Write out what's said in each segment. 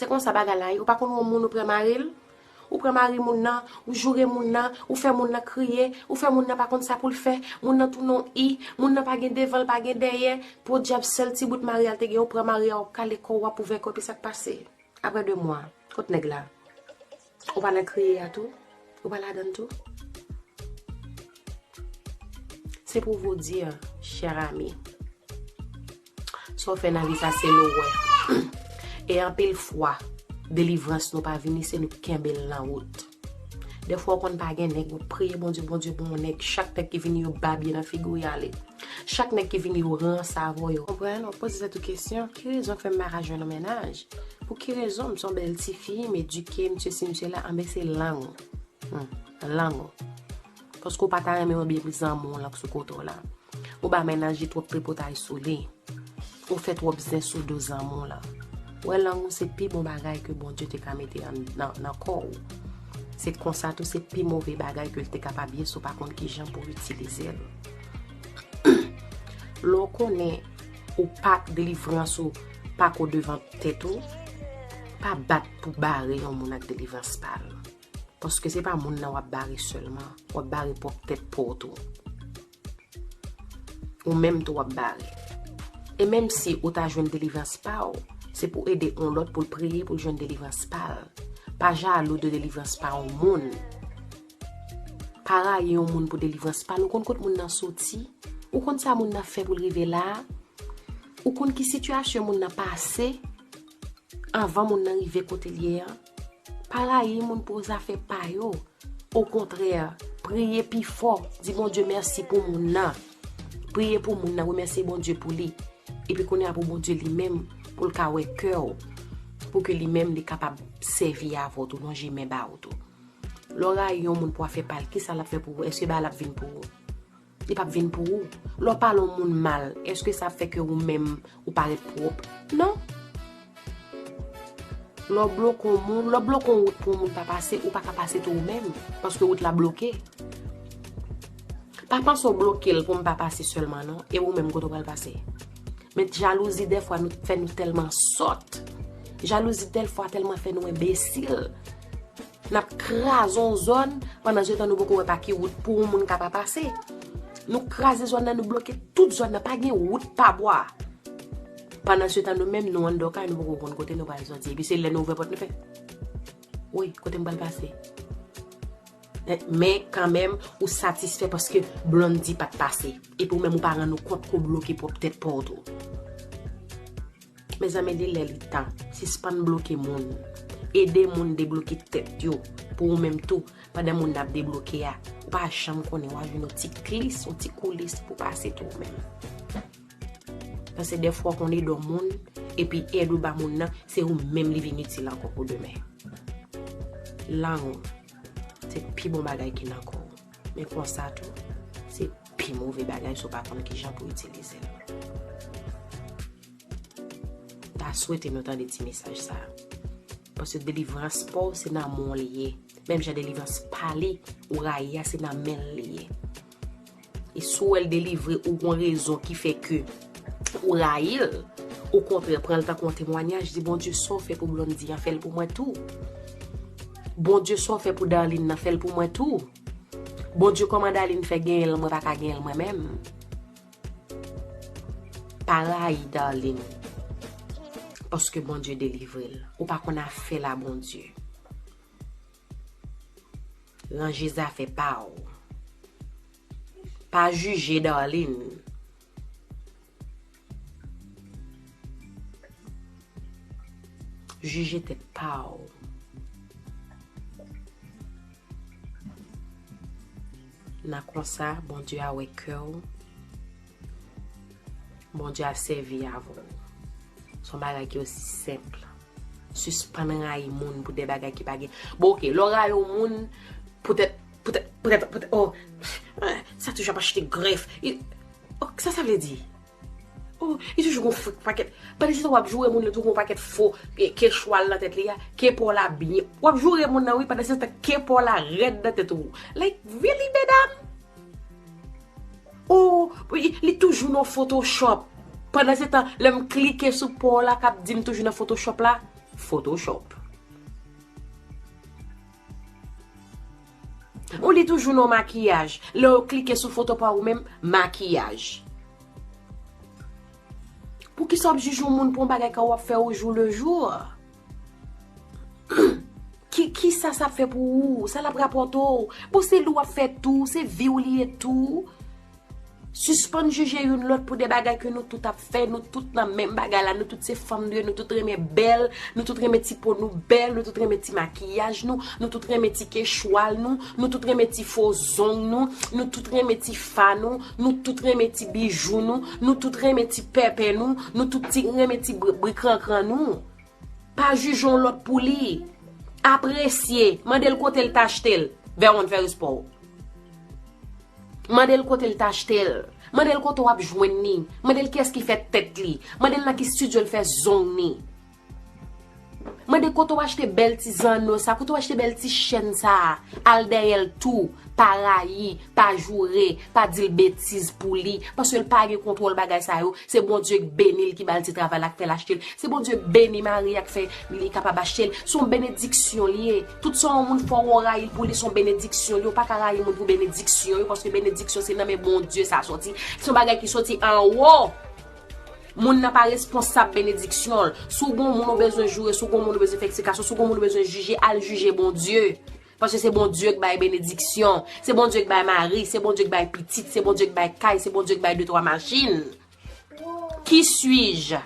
Se konsa bagay la ye, ou pa konn yon moun ou pran mari l, ou pran mari moun nan, ou joure moun nan, ou fè moun nan kriye, ou fè moun nan pa konn sa pou l fè, moun nan tounen yon i, moun nan pa gen devan l pa gen dèyè, podyab sèl ti bout mari a l te gen ou pran mari a wap kale kò w wap ouvè kò w epi sa k pase aprè 2 mwa, kot nèg la? Ou pa nan kriye a tou? Ou pa ladann tou? Se pou vou dir, cher ami, sa w fè nan vi sa se l ou wè. E anpil fwa, delivrans nou pa vini se nou kenbe l nan wout. Defwa w konn pa gen nèg, ou priye Bondye, Bondye ban w nèg, chak nèg ki vini yo babye nan figi w y ale. Chak nèg ki vini yo ranse avè w. Konprann? Ou poze tèt ou kesyon, ki rezon k fè m pa ka jwenn yon mennaj? Pou ki rezon m son bèl tifi, m edike, m sesi m sela, anben se lang ou. Hum, lang ou. Paske ou pa ta renmen mwen byen zanmi w lan k sou kote w la. Ou ba mennaj twòp tripotay sou li. Ou fè twòp zen sou do zanmi w lan. Ou wè lang ou se pi bon bagay ke Bondye te ka mete nan kò ou. Se konsa tou se pi move bagay ke l te kapab ye si w pa konn kijan pou itilize l. Lè w konnen. Ou pa k delivrans ou pako devan tèt ou pa bat pou bare yon moun ak delivrans pal paske se pa moun nan wap bare selman wap bare pwòp tèt paw tou ou menm tou wap bare e menm si ou ta jwenn delivrans paw se pou ede yon lòt poul priye poul jwenn delivrans pal pa jalou de delivrans pa yon moun. Pa rayi yon moun pou delivrans pa l, ou konn kot moun nan soti? Ou konn sa moun nan fè pou l rive la a? Ou konn ki sitiyasyon moun nan pase anvan moun nan rive kote l ye an? Pa rayi moun pou zafè pa yo, okontrè, priye pi fò, di Bondye mèsi pou moun nan, priye pou moun nan, remèsye Bondye pou li, epi kounye a pou Bondye li menm pou l ka wè kè w, pou ke li menm li kapab sèvi avè w tou, lonje men ba ou tou. Lè w rayi yon moun pou afè pa l, ki sa l ap fè pou ou? Èske bagay la ap vin pou ou? Li p ap vin pou ou. Lè w pale yon moun mal, èske sa ap fè ke ou menm ou parèt pwòp? Non. Lè w bloke yon moun, lè w bloke yon wout pou yon moun pa pase, ou pa ka pase tou ou menm, paske wout la bloke. Pa panse w bloke l pou m pa pase sèlman non, e ou menm kote w pral pase? Men jalouzi dèfwa fè nou tèlman sòt, jalouzi dèfwa tèlman fè nou enbesil. Nap kraze yon zòn pandan se tan nou poko wè pa ki wout pou yon moun ka pa pase. Nou kraze zòn nan nou bloke tout zòn nan pa gen wout pa bwa. Pandan se tan nou menm nou anndan kay nou poko konn kote nou pral soti epi se lè nou ouvè pòt nou fè Woy kote m pral pase. Men kan menm ou satisfè paske Blondie pat pase epi ou menm ou pa rann ou kont ke w bloke pwòp tèt pa w tou. Mezanmi li lè li tan, sispann bloke moun. Ede moun debloke tèt yo pou ou menm tou, pandan moun nap debloke a, ou pa janm konnen wap jwenn yon ti klis, yon ti koulis pou pase tou ou menm. Paske dèfwa ou konn ede yon moun, epi èd ou ba moun nan, se ou menm li vin itil ankò pou demen. Lang ou, se pi bon bagay ki nan kò ou, men konsa tou, se pi move bagay si ou pa konn kijan pou itilize l. Ta swete nou tande ti mesaj sa. Paske delivrans pa w se nan men w li ye. Menm jan delivrans pa li, ou rayi a se nan men l li ye. E si w wè l delivre ou gon rezon ki fè ke ou rayi l, okontrè pran l tankou yon temwanyaj, di Bondye sa w fè pou Blondy an fè l pou mwen tou. Bondye sa w fè pou Darline nan fè l pou mwen tou. Bondye kòman Darline fè genyen l mwen pa ka genyen l mwen menm. Pa rayi darline paske Bondye delivre l ou pa konn afè la Bondye ranje zafè pa w pa jije darline jije tèt pa w. Nan konsa Bondye a wè kè w, Bondye a sèvi avè w. Se yon bagay ki osi senp. Sispann rayi moun pou de bagay ki pa gen. Bon ok, lè w rayi yon moun poutèt, poutèt, poutèt, poutèt, oh, sa toujou ap achte grèf. Sa sa vle di? Oh li toujou gon fo paket Pandan se sa wap joure moun yo toujou gon paket fo ke chwal nan tèt li a ke paw la byen wap joure moun nan wi pandan se tan ke paw la rèd nan tèt ou like really medam oh li toujou nan photoshop pandan se tan lèm klike sou paw la kap dim toujou nan photoshop la photoshop. Ou li toujou non makiyaj. Lè yo klike sou foto pa ou menm, makiyaj. Poukisa w ap jije yon moun pou yon bagay ke w ap fè o jou le jou? Kisa sa ap fè pou ou? Sa l ap rapòte w? Bon se li w ap fè tou, se vi w li ye tou. Sispann jije youn lòt pou de bagay ke nou tout ap fè, nou tout nan menm bagay la, nou tout se fanm nou ye, nou tout renmen bèl, nou tout renmen ti po nou bèl, nou tout renmen ti makiyaj nou, nou tout renmen ti ke chwal nou, nou tout renmen ti fo zong nou, nou tout renmen ti fa nou, nou tout renmen ti bijou nou, nou tout renmen ti pèpè nou, nou tout ti renmen ti brikrankran nou. Pa jije yon lòt pou li. Apresye. Mande l kote l te achte l. Verwon fè respè w. Mande l kote l te achte l. Mande l kote w ap jwenn li. Mande l kiyès ki fè tèt li. Mande l nan ki stidyo l fè zong li. Mande kote w achte bèl ti zanno sa, kote w achte bèl ti chèn sa. Al dèyè l tou. Pa rayi, pa joure, pa di l betiz pou li, paske l pa gen kontwòl bagay sa yo, se Bondye k beni l ki ba l ti travay la k fè l achte l, se Bondye k beni mari a k fè li kapab achte l, s on benediksyon l ye, tout sa yon moun fè w ou rayi l pou li s on benediksyon l ye, ou pa ka rayi moun pou benediksyon yo, paske benediksyon se nan men Bondye sa sòti, s on bagay ki sòti anwo, moun nan pa responsab benediksyon l, si w gen yon moun ou bezwen joure, si w gen yon moun ou bezwen fè eksplikasyon, si w gen yon moun ou bezwen jije, al jije Bondye. Paske se Bondye k bay benediksyon, se Bondye k bay mari, se Bondye k bay pitit, se Bondye k bay kay, se Bondye k bay de twa machin. Ki suis-je?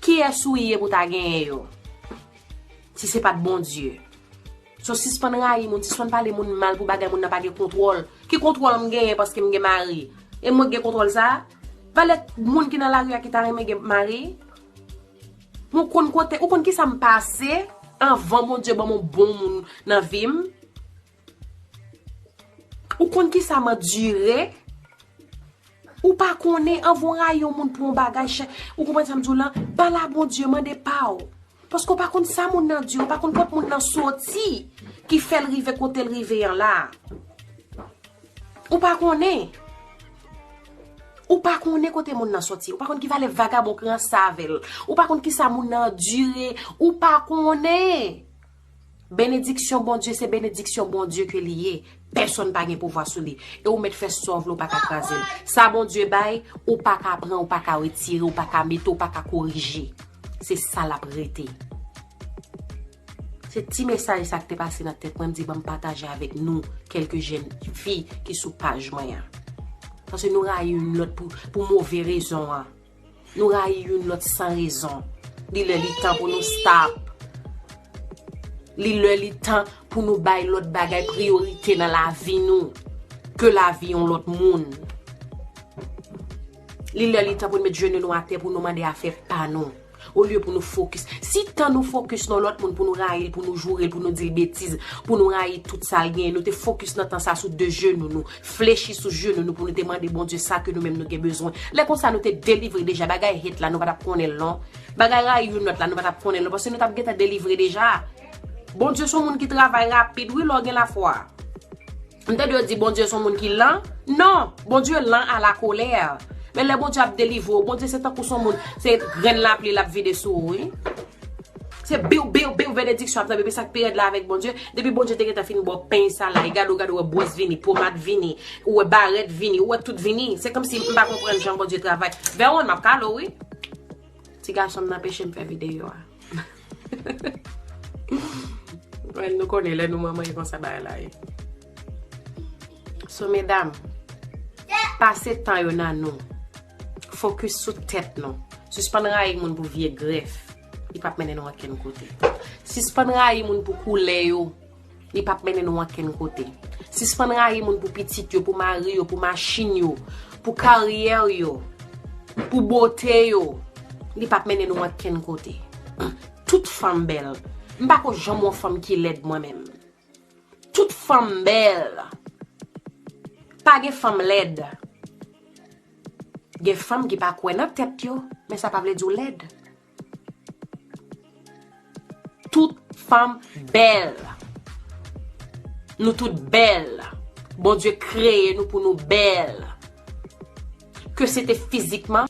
Kiyès ou ye pou ta genyen yo? Si se pat Bondye. So sispann rayi moun, sispann pale moun mal pou bagay moun nan pa gen kontwòl. Ki kontwòl m genyen paske m gen mari? E mwen k gen kontwòl sa? Valè moun ki nan lari a ki ta renmen gen mari? Mwen konn kote, ou konn kisa m pase anvan Bondye ban m yon bon moun nan vi m? Ou konn kisa m andire? Ou pa konnen anvan w rayi yon moun pou yon bagay chè, ou konprann sa m di w lan, ba la Bondye, mande pa w. Paske ou pa konn sa moun nan andire, ou pa konn kot moun nan soti ki fè l rive kote l rive an la. Ou pa konnen. Ou pa konnen kote moun nan soti. Ou pa konnen ki valè vagabon ki ran savel. Ou pa konnen ki sa moun nan dire. Ou pa konnen. Benediksyon Bondye se benediksyon Bondye ke li ye. Pèson pa gen pouvwa sou li. E ou met fè sa w vle ou pa ka kraze l. Sa Bondye bay, ou pa ka pran, ou pa ka retire, ou pa ka mete, ou pa ka korije. Se sa l ap rete. Se ti mesaj sa k te pase nan tèt mwen m di banm pataje avèk nou kèlke jèn fi ki sou paj mwen an. Paske nou rayi youn lòt pou move rezon an. Nou rayi youn lòt san rezon. Li lè li tan pou nou stop. Li lè li tan pou nou bay lòt bagay priyorite nan lavi nou ke lavi yon lòt moun. Li lè li tan pou nou met jenou nou atè pou nou mande afè pa nou. Olye pou nou fokis. Si tan nou fokis nan lòt moun pou nou rayi l, pou nou joure l, pou nou di l betiz, pou nou rayi tout sa l genyen, nou te fokis nan tan sa sou de jenou nou, flechi sou jenou nou pou nou te mande Bondye sa ke nou menm nou gen bezwen. Lè konsa nou te delivre deja. Bagay hate la nou pa t ap konnen l non. Bagay rayi youn lòt la nou pa t ap konnen l non paske nou t ap gentan delivre deja. Bondye s on moun ki travay rapid wi lè w gen lafwa. M tande yo di Bondye son moun ki lan. Non! Bondye lan a la kolè. Men lè Bondye ap delivre w, Bondye se tankou son moun, se grenn lapli l ap vide sou ou wi. Se biw, biw, biw benediksyon ap tonbe. Epi sa k pi rèd la avèk Bondye, depi Bondye te gentan fin ba w peny sa la, e gade w, gade w, ou wè bwòs vini, pomad vini, ou wè barèt vini, ou wè tout vini. Se kòmsi m pa konprann jan Bondye travay. Veron, m ap kale w wi. Ti gason m nan peche m fè videyo a. Mwen nou konnen lè nou mwen mwen yon sa bay la ye. So medam, pase tan yo nan nou. Fokus sou tèt nou. Sispan rayi moun pou vye gref. Li pap menen nou anken kote. Sispan rayi moun pou koule yo. Li pap mennen nou ankenn kote. Sispann rayi moun pou pitit yo, pou mari yo, pou machin yo, pou karyè yo, pou bote yo. Li pap mennen nou ankenn kote. Tout fanm bèl. M pa ko janm wè yon fanm ki lèd mwen menm. Tout fanm bèl. Pa gen fanm lèd. Gen fanm ki pa kwè nan tèt yo, men sa pa vle di w lèd. Tout fanm bèl. Nou tout bèl. Bondye kreye nou pou nou bèl. Ke se te fizikman.